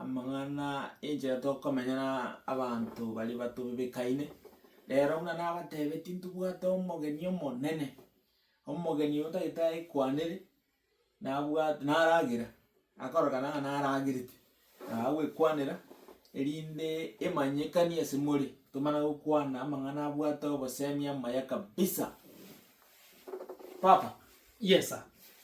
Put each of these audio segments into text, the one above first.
Amang'ana enchera tokomenya na abanto baria batobebekaine, rero buna nabatebetie ntobwate omogeni omonene, omogeni oyo tagete aekwanere, nabwate naragera, akorokana ng'a naragerete, naye agwekwanera, erinde emanyekanie ase more, tomana gokwana amang'ana abwate obosemi amaya kabisa. Papa. Yes sir.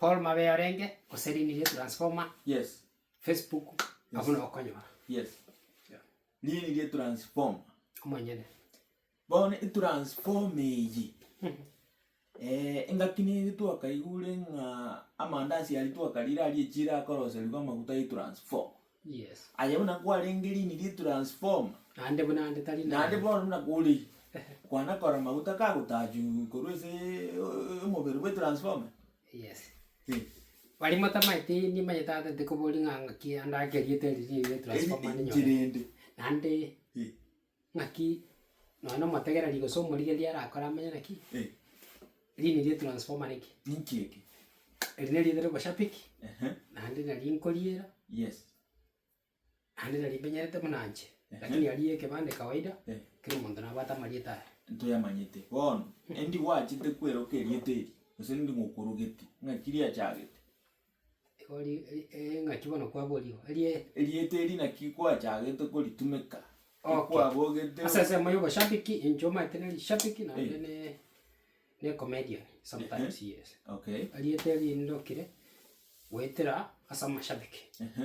Paul mabe orenge gose rinde ria transformer Yes. Facebook abwo nabo okonyora Yes. Yeah. Nini rie transformer. omonyene Bono etransformer eyi eh, engaki neri twakaigure ng'a amandasi aria twakarire aria echira akoroserigwa amaguta y'etransformer. Yes. Aye buna kwarenge rini ri transformer. Naende buna ande tari naye. Naende bono buna kore. Kwana kora maguta kagotachu korwa ase omobere bwe transformer. Yes. Eh. Bari motamaeti nimanyete ata nte koboria ng'a ng'aki ande ake rieta eri rire transformer ninyorete. Eri enchera ende. Naende. Eh. Naki nonya na omotegereri gose omorigereria arakore amanye naki rini rie transformer niki. Ninki eke? Eri neri ritari oboshabiki, naende nari nkoriera, naende nari mbenyerete buna nche, lakini aria ekebande kawaida, kera omonto nabwate amarieta aya. Ntoyamanyete. Bono, endi gwachete kweroka erieta eri, gose endi ng'okorogeti, ng'aki riachagete? Igo ri- e- e- engaki bono kwaborigwe, erie Erieta eri naki kwachagete koritumeka, Okay. ekwabogete ase ensemo ya oboshabiki, inche omanyete na erishabiki naende Eh. ne- ne comedian sometimes yes. Okay. Erieta eri ndokire goetera ase amashabiki. Ehe.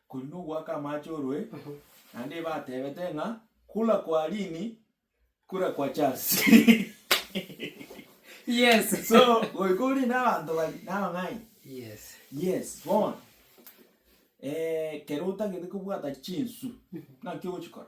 Korende ogoaka amache orue, naende batebete ng'a, Kura kwa Lini, kura kwa Charles. Yes. So, goika ore na abanto baria, na abang'aini. Yes. Yes, bono, eh, kero otagete kobwata chinsu, naki ogochikora?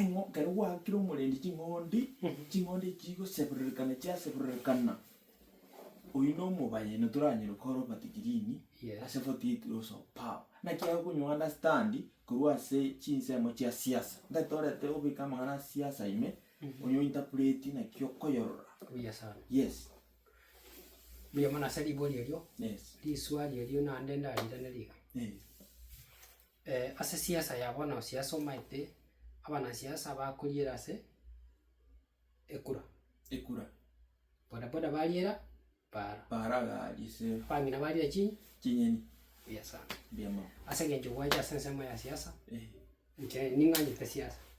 Eng'o, ekero gwaakire omorendi ching'ondi, ching'ondi echio chigosebererekana chiasebererekana, oyio na omobaya ino toranyare kora obati green Yes. ase foti yetu ya Usopao. Naki aye okonye o-understand korwa ase chinsemo chia siasa. Ntari torete obeke amang'ana a siasa ime, onye o interpret naki okoyorora. Buya sana. Yes, Buya mono ase ribori erio, yes, riswali erio naende ndariranere iga. eh. Ase siasa ya bono siasa omaete abanasiasa bakoriera ase ekura. Ekura. Boda boda bariera baara. Baara gari ase. Abang'ina bariera chi. Chinyeni. Mbuya sana. Mbuya mono. Ase engencho gwacha ase ensemo ya siasa. Inche ning'anyete siasa.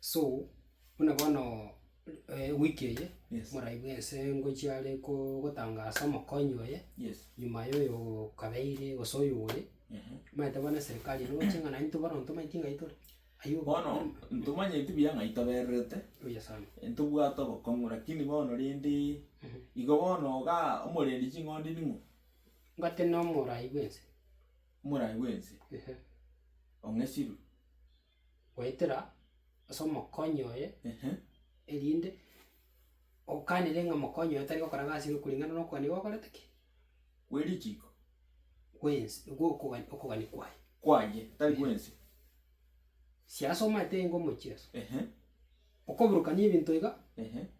So, buna bono ewiki eye, morai bwense ngochia are ko- gotanga ase omokonyi oye, nyuma yoyo kabeire gose oyo ore, maete bono eserikari eye nogochia ng'a naintwe bono ntomanyeti ng'ai tore, ayio Bono ntomanyeti buya ng'ai tobererete, Buya sana. ntobwate obokong'u rakini bono rende igo bono iga omorendi ching'ondi ning'o? Ngoteba nomorai bwense. Morai bwense? Ehe. Ong'esirwe? goetera ase omokonyi oye, Ehe. erinde okanere ng'a mokonyi oye tari gokora egasi eria okuring'ana na okogania gwakorete ki? Gwe richiko. Gw'ense gw'okogani okogania kwaye. Kwaye, tari gw'ense. Siasomate ingo omochie aso. Ehe. Okoburukania ebinto iga. Ehe.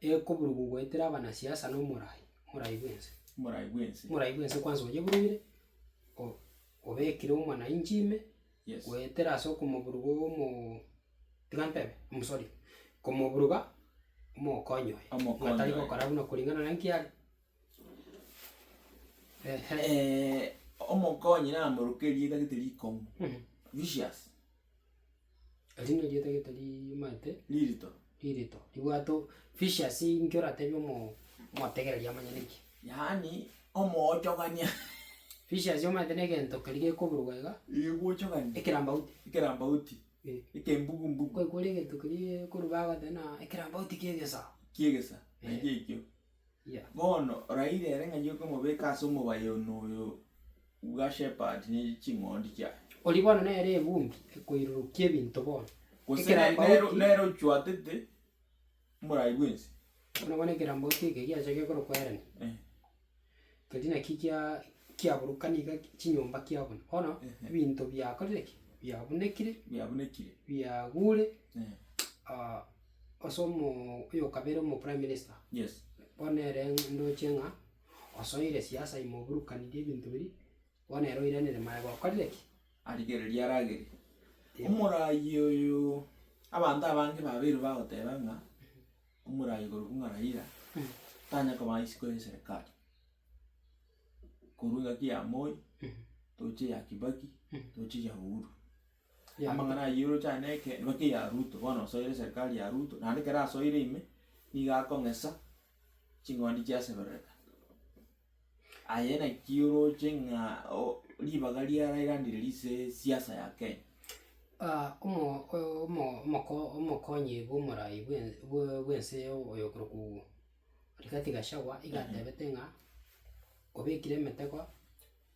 Ekoburubu goetera abanasiasa na omorai, omorai bw'ense. Omorai bw'ense. Omorai bw'ense kwansa onyeburugire, o- obekire omwananchi ime, Yes. goetera ase okomoburuga omoo tiga ntebe, mm sorry, komoburuga omokonyi oye. Omokonyi Ng'a tari oye. gokora buna kuringana na nki are. Ehe. omokonyi namorukerie etagete rikong'u, Mhm. vicious. Eri nerieta gete rimaete. Ririto. Ririto ribwate o vicious inki oratebie omoo omotegereri amanye niki. Yaani omoochogania. Vicious omaete na egento keria gekoburugwa iga. Gegochogania. Ekerambauti. Ekerambauti. Eh. Ekembugu mbugu. Kwaigwa ore egento keria gekoruga agoteba buna ekerambauti kia egesa. Kia egesa. Naende ekio. Bono oraire ere ng'a nyoke omobeke ase omobaye one oyo bwa shepherd ne ching'ondi chiaye. Oria bono nere evumbi ekoirurukia ebinto bono. Gose Ekerambaoti- nero nere ochwatete omorai bwensi. Buna bono ekerambaoti eke giacha gekorokwa Herani, Eh. keria naki gia kiaburukana iga chinyomba kiabuna. Bono ebinto biakorire ki? Biabunekire, Biabunekire. biagure Eh. Ase omo oyokabere omo prime minister. Yes. Bono ere ndoche ng'a osoire siasa ime oburukaniri ebinto biria, bono ere oiranire maega okorire ki? Arigererie aragerie. Omoraai oyo abanto abange babeirwe bagoteba ng'a omoraai korokwa ng'a Raila tanya kobaa isiko y'eserekari. Korwa engaki ya Moi, toche ya Kibaki, toche ya Uhuru. Amang'ana ayio oroche aye neke nibake ya Ruto, bono osoire serikari ya Ruto, naende ekero asoire ime, nigo akong'esa ching'ondi chiaseberereka. Aye naki oroche ng'a o- ribaga riarairanire rise siasa ya Kenya. omo- omo- omoko- omokonyi bw'omorai bw'e- bwe- bw'ense eye oyo okorokwu Rigathi Gachagua iga atebete ng'a obekire emetego.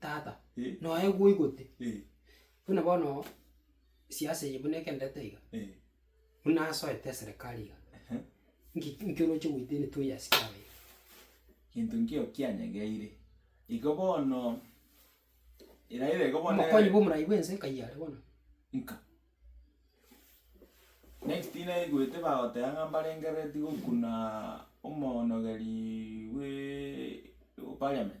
Tata, noe gwoigote, buna bono siasa eye buna egenderete iga, buna asoete eserekari iga, nki nki oroche goetania toyasike abe iga. Gento nkio kianyegeire, igo bono erairo ego bono ere- Omokonyi bw'omorai bw'ense nkaiyo are bono. Nka. Next naigwete bagoteba ng'a mbarenge ready gokunaa omonogeri bwee parliament.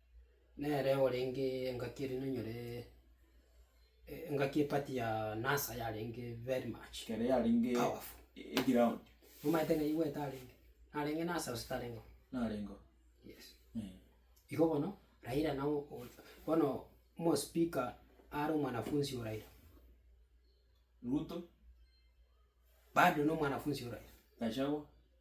Nere orenge engaki ere nonyoree, e- engaki epati ya nasa yarenge very much Ekero yarenge powerful. eground Omaete ng'a igwete arenge, narenge nasa gose tarengeo? narengeo Yes. eh. Igo bono, Raila nao o- bono omospeaker are omwanafunsi o Raila, Ruto, bado nomwanafunsi o Raila. Gachagua.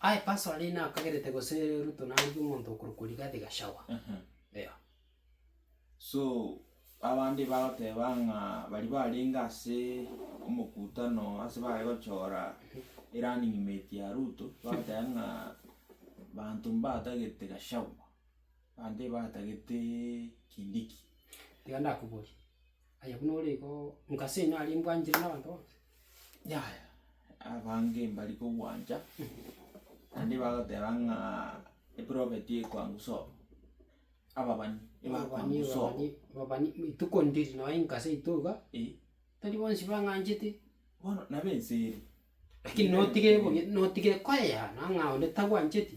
Aye Passover nigo nakagerete gose ruto narigia omonto okorokwa rigathi gachagwa. Eeh. So abande bagoteba ng'a baria barenge ase omokutano ase bare gochora erunning mate ya Ruto bagoteba ng'a banto mbatagete Gachagua, bande batagete Kindiki. Tiga ndakoborie. Aye buna ore igo nka senyo aria mbwanchire na abanto bonsi. Yaya, abange mbari kogwancha, naende bagoteba ng'a eprofet ekwangu sobo, ababani ebakwangu Ababani, sobo. ababani, ababani, mi- ituko ndiri noe inka seito iga, Eh, tari bonsi bang'anchete, bono nabo ense ere. lakini Ere notige ere. bobe notige koyehana ng'a onde tagwancheti.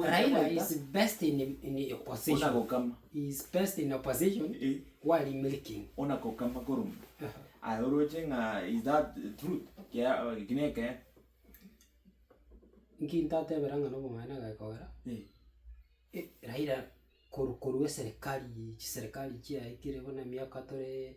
Raila is best in opposition he is best in opposition while in milking. Ona kokama korwa mbu aye oroche ng'a is that truth eki nekegeni. Nki ntatebera ng'a nobong'aini agekogera Raila korwa korwa eserekari chiserekari chiaikire buna emiaka toree.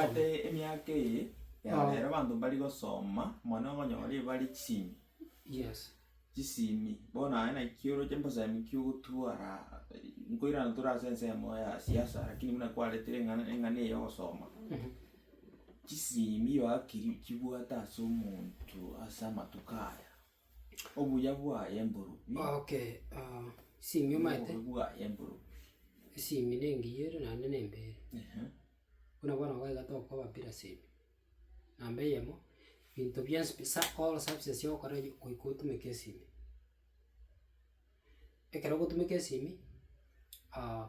Ase emiaka eye ya rero abanto mbari gosoma mono okonyora ebari chisimi, chisimi bono aye naki oroche mbosemi ki ogotwara nkoirana tore ase ensemo ya siasa lakini buna kwaretire eng'ana eng'ana eye ya ogosoma, chisimi oakiri chibwate ase omonto ase amatuko aya. Obuya bwaye mburu bi. Okay ah esimi omanyete. Obobe bwaye mburu bi. Esimi nengiya ere naende nembe ere. Ehe. Buna bono iga iga tokoba bila semi. Namba eyemo, binto bionsi pi sa all services ogokora eye goika otumeke esimi. Ekero ogotumeka esimi ah.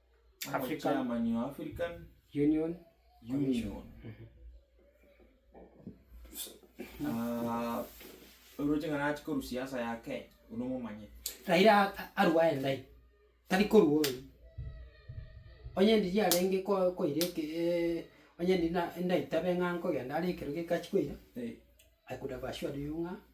Omochairman o African Union Commission. Union. Ah, oroche ng'a nachi korwa siasa ya Kenya, oyio nomomanye. Raira a- a- arua aye ndai, tari korua oyi. Onye ndiri arenge ko- koira eke eh, onye ndiri na- ndaitabe ng'a nkogenda are ekero geka achi koira, Eh. I could have assured you ng'a.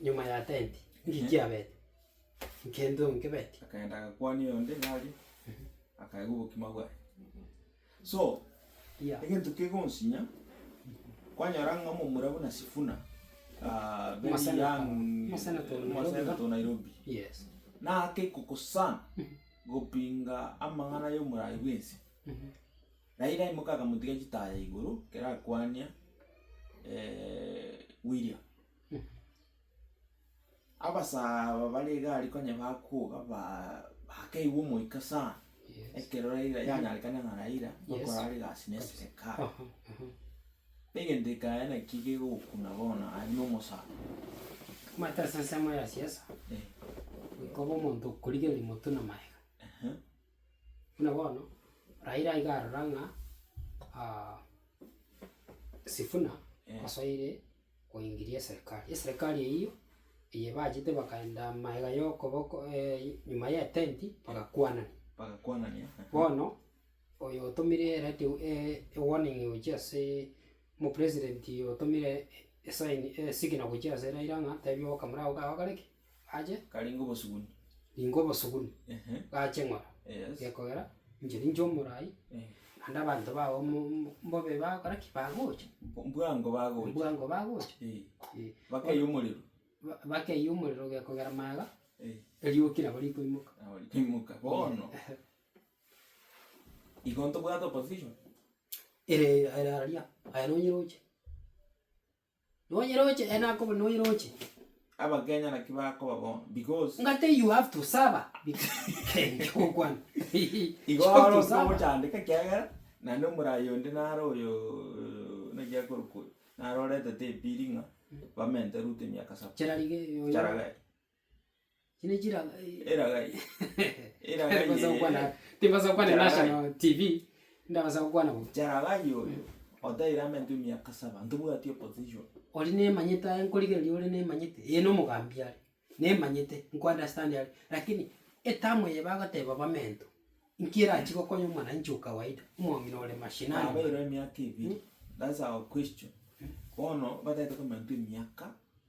nyuma ya tenti, nki kiabete? Nkento nkebeti? Akaenda agakwania oyonde ng'a arie, akaegwa obokima bwaye. So, Mbuya. egento kegonsinya, kwanyora ng'a omomura buna Sifuna, ah, very Omosenator. young, Omosenator o Nairobi, omosenator no? o Nairobi, Yes. nake kokosana gopinga amang'ana y'omorai bw'ense, Na ira imoke akamotiga chitaya igoro kerakwania William. Abasaa aba bare egari konya bakoga baa bakeigwa omoika sana, ekero Raila yanyarekana ng'a Raila nokorara egasi na eserekari. Egento ekaya naki kegokuna bono aye na omosani. Omanyete ase ensemo ya siasa, goika obe omonto okorigereria motwe na magega. Buna bono Raila iga arora ng'a Sifuna osoire koingiria eserekari. Eserekari eyio eye ebachete bakaenda amaega ya okoboko nyuma y'etenti bagakwanania. Bagakwanania eeh. Bono oyo otomire ereti ewarning gochia asee omopresident otomire esaini esigina gochia ase Raila ng'a tebia obokamera obo kaye ogakore ki? ache. Karenge obosuguni. Ningo obosuguni. Gache ng'ora. Yes. Gekogera, inche ninche omorai, naende abanto bago mbobe bagokora ki? Bagocha. Bwango bagocha. Bwango bagocha. Eeh. Eeh. Bakeyie omorero. Bakeyie omorero gekogera maega. Eeh. Erioki nabo rikoimoka. Nabo rikoimoka. Bono, igo ntobwate opposition? Ere aria, aye nonye roche. Noyeroche, eh, nakoba noyeroche. Abakenya naki bakoba bono because. Ng'a tei you have to saba nkogokwana Igo you have oro to saba. nkogochandeka ekiagera naende omoraai onde nare oyoooo naki akorokwa oyo, nare oretete epiri ng'a bamente Ruto emiaka saba. Charage oyo. Charage. Chinde chira Eraga eye, eraga eye Timbasaa gokwana ere. timbasaa gokwana Charagai. national TV, ndabasa gokwana bo. Charagai oyo, otaeire amento emiaka saba, ntobwati opposition. Oria nemanyete aye nkorigereria ore nemanyete, eye na omogambi are, nemanyete, nko understand are, rakini etamu eye bagoteba bamento, nki erachie gokonya omwananchi o kawaida, omong'ina ore mashinani mwa. Nabeirwe emiaka ebiri, that's our question. Bono bataete komenta emiaka.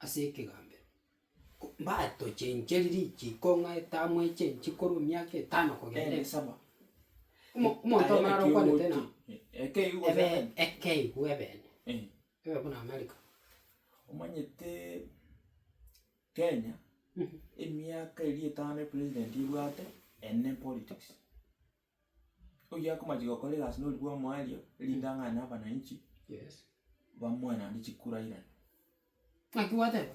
Ase ekegambero, mbatochencheri richiko ng'a etaamo echenchi korwa emiaka etano kogenda esaba. Omo- omonto omoraro okwanete ng'a ebe ekeigu ebene, ebe buna America. Omanyete Kenya, emiaka eria etano epresident ebwate, ende politics. oyio akomache gokora egasi na oria bw'omoerio, erinde ang'ane abananchi, bamoe naende chikurairane. Naki gwateba?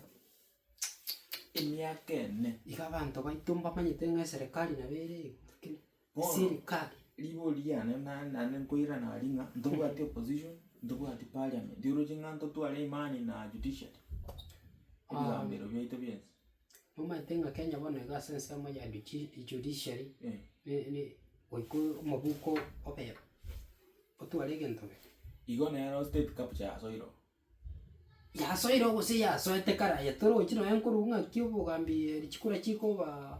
Emiaka ene. Iga abanto baito mbamanyete ng'a eserekari nabo ere iga lakini Bono, sirikari. rigori riane na- naende nkoirana aria ng'a ntobwati opposition, ntobwati parliament, oroche ng'a ntotware imani na judiciary, ebigambero biaito bionsi. Momaete ng'a Kenya bono iga ase ensemo ya juchi judiciary ne ne goika omobuko obebe, otware egento bebe. Igo nero state capture yasoire oo. Yasoire oo gose yasoete kare aye torochi nonye nkorwa ng'aki obogambi richikura chikobaa.